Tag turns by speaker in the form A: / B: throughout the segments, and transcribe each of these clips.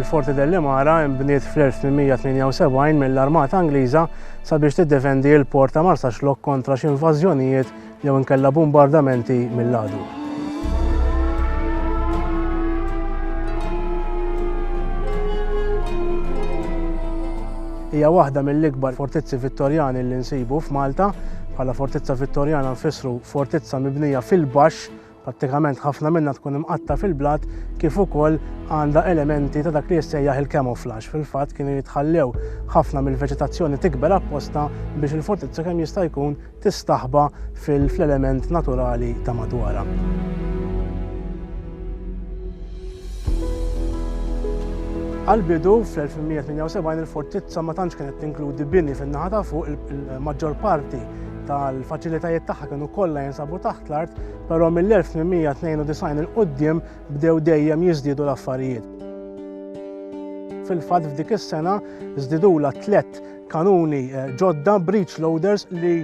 A: il-Forti dell-Imara imbniet fl-1878 mill-Armata Angliża sabiex tiddefendi l-port ta' Marsaxlok kontra xi invażjonijiet jew inkella bumbardamenti mill-għadu. Hija waħda mill-ikbar fortizzi Vittorjani li nsibu f'Malta. Bħala fortizza Vittorjana nfissru fortizza mibnija fil-baxx Prattikament ħafna minnha tkun imqatta' fil-blat kif ukoll għandha elementi ta' dak li jissejjaħ il-camouflage. Fil-fatt kienu jitħallew ħafna mill-veġetazzjoni tikber apposta biex il-fortizza kemm jista' jkun tistaħba fil-element naturali ta' madwarha. Għal-bidu fl-1878 il-fortizza ma tantx kienet tinkludi bini fin-naħa ta' fuq il-maġġor parti tal-faċilitajiet tagħha kienu kollha jinsabu taħt l-art, però mill-1892 il-qudiem bdew dejjem jiżdiedu l-affarijiet. Fil-fatt f'dik is-sena żdidula tliet kanuni eh, ġodda breach loaders li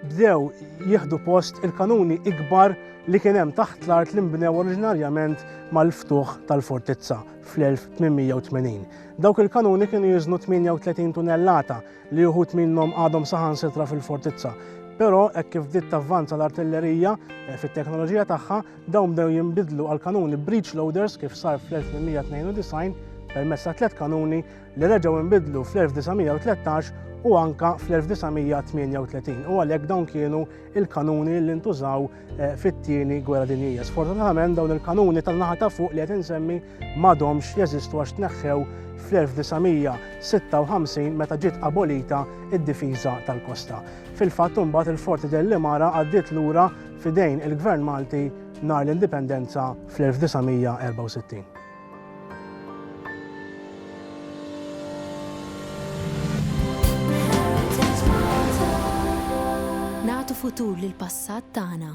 A: bdew jieħdu post il-kanuni ikbar li kien hemm taħt l-art li nbnew oriġinarjament mal-ftuħ tal-fortizza fl-1880. Dawk il-kanuni kienu jiżnu 38 tunellata li uħud minnhom għadhom saħansitra fil-fortizza. Però hekk kif bdiet tavvanza l-artillerija eh, fit-teknoloġija tagħha, dawn bdew jinbidlu għal kanuni breech loaders kif sar fl-1892 permezz ta' tliet kanuni li reġgħu nbidlu fl-1913 u anka fl-1938 u għalhekk dawn kienu il-kanuni li ntużaw eh, fit-tieni gwerra dinjija. Sfortunatament dawn il-kanuni tan-naħa ta' fuq li qed insemmi m'għadhomx jeżistu għax tneħħew fl-1956 meta ġiet abolita id-difiża tal-kosta. Fil-fatt imbagħad il-Forti dell Mara għaddiet lura fidejn il-Gvern Malti nar l-Indipendenza fl-1964.
B: Nagħtu futur lill-passat tagħna.